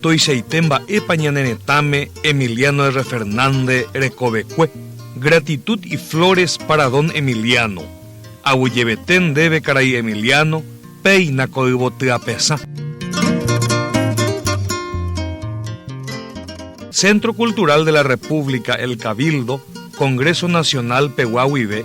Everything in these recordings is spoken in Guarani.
Tuichaite mba'épa ñane retãme Emiliano R. Fernández rekovekue. Gratitud y flores para don Emiliano. Aguyjevete ndéve karai Emiliano, péina ko yvoty apesã. Centro Cultural de la República El Cabildo, Congreso Nacional pegua guive,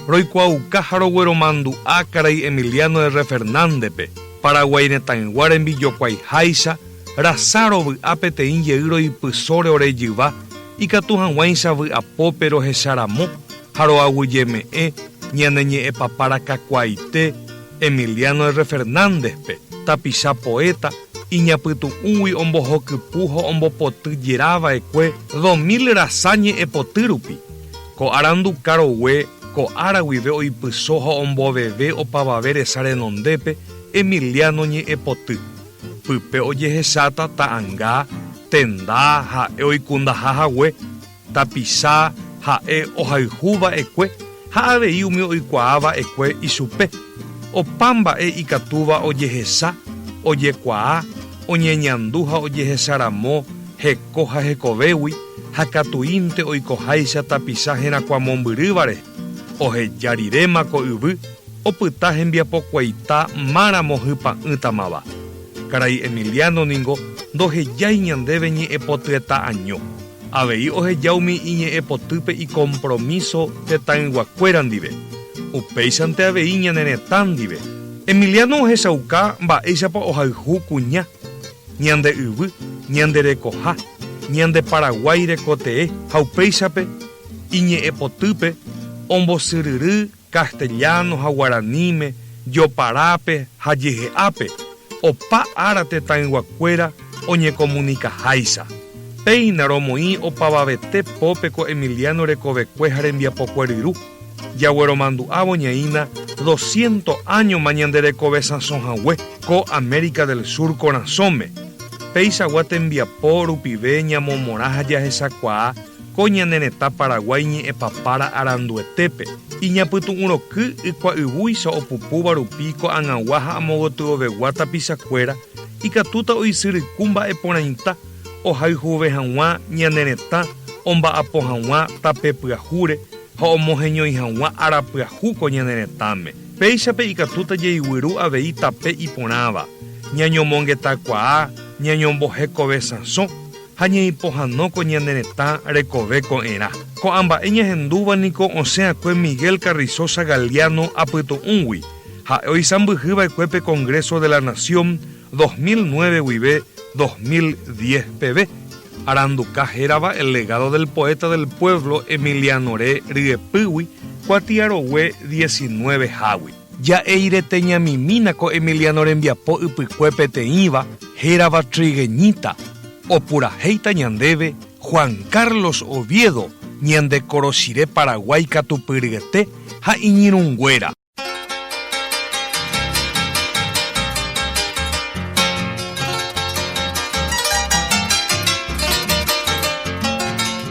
roikuaauka ha rogueromandu'a karai Emiliano R. Fernándepe, Paraguái retãygua rembijokuaiháicha rasa rovy'a peteĩ jey roipysóre ore jyva ikatu hag̃uáicha vy'apópe rohecha ramo, ha roaguyjeme'ẽ ñane ñe'ẽpapára kakuaaite Emiliano R. Fernández-pe, tapicha poéta, iñapytu'ũgui ombohokypu ha ombopoty jera vaekue dos mil rasa ñe'ẽpoty rupi, ko arandu karogue ko ára guive oipyso ha omboveve opavave resa renondépe Emiliano ñe'ẽpoty, pype ojehecháta ta'anga, tenda ha'e oikundaha hague. Tapicha ha'e ohayhu va'ekue ha avei umi oikuaa va'ekue ichupe. Opa mba'e ikatúva ojehecha, ojekuaa, oñeñandu ha ojehecharamo heko ha hekovégui ha katuínte oikoháicha tapicha herakuã mombyryva rehe, oheja riréma ko yvy opyta hembiapokuaita máramo hypa'ỹtamava. Karai Emiliano ningo ndohejái ñandéve ñe'ẽpotyeta'año. Avei oheja umi iñe'ẽpotýpe ikompromíso tetãyguakuéra ndive, upéichante avei ñane retã ndive. Emiliano ohechauka mba'éichapa ohayhu kuña, ñande yvy, ñande rekoha, ñande Paraguái rekotee ha upéichape iñe'ẽpotýpe ombosyryry Castellano ha guaraníme, Joparápe ha Jehe'ápe, opa ára tetãyguakuéra oñekomunikaháicha. Péina romoĩ opavavete pópe ko Emiliano rekovekue ha rembiapokue ryru, jagueromandu'ávo ñaína dosciento áñoma ñande rekove sãso hague ko América del Sur korasõme. Peichagua tembiapo rupive ñamomorã ha jahechakuaa Ko ñane retã Paraguái ñe'ẽpapára aranduetépe, iñapytu'ũroky ykuayvúicha opupúva rupi ko'agãgua ha amogotyovegua tapichakuéra, ikatúta oisyryku mba'e porãita ohayhuve hag̃ua ñane retã omba'apo hag̃ua tape pyahúre ha omoheñói hag̃ua ára pyahu ko ñane retãme. Péichape ikatúta jaiguýru avei tape iporãva, ñañomongetakuaa, ñañombohekovesãsõ, ha ñeipohãnóko ñane retã rekove ko'ẽrã. Ko'ã mba'e ñahendúva niko osẽ'akue Miguel Carrizosa Galiano apytu'ũgui, ha'e oisãmbyhy va'ekue pe Congreso de la Nación dos mil nueve guive dos mil diez peve, aranduka hérava El legado del poeta del pueblo Emiliano Re ryepýgui kuatiarogue diecinueve hágui. Ja'éi rete ñamimína ko Emiliano rembiapo ypykue peteĩva hérava trigueñita, opurahéita ñandéve Juan Carlos Oviedo ñande korochire Paraguái katupy ryete ha iñirũnguéra.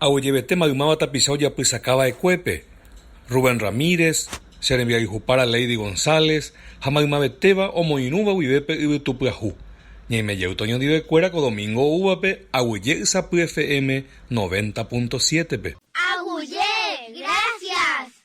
Ha oguejevete maymáva tapicha ojapysaka va'ekuépe, Rubén Ramírez, che rembiayhupára Lady González ha maymavetéva omoirũva guive pe yvytupyahu. Ñaime jey toñondivekuéra ko domingo oúvape Aguyje Ysapy FM noventa punto siete-pe. Aguyje, gracias!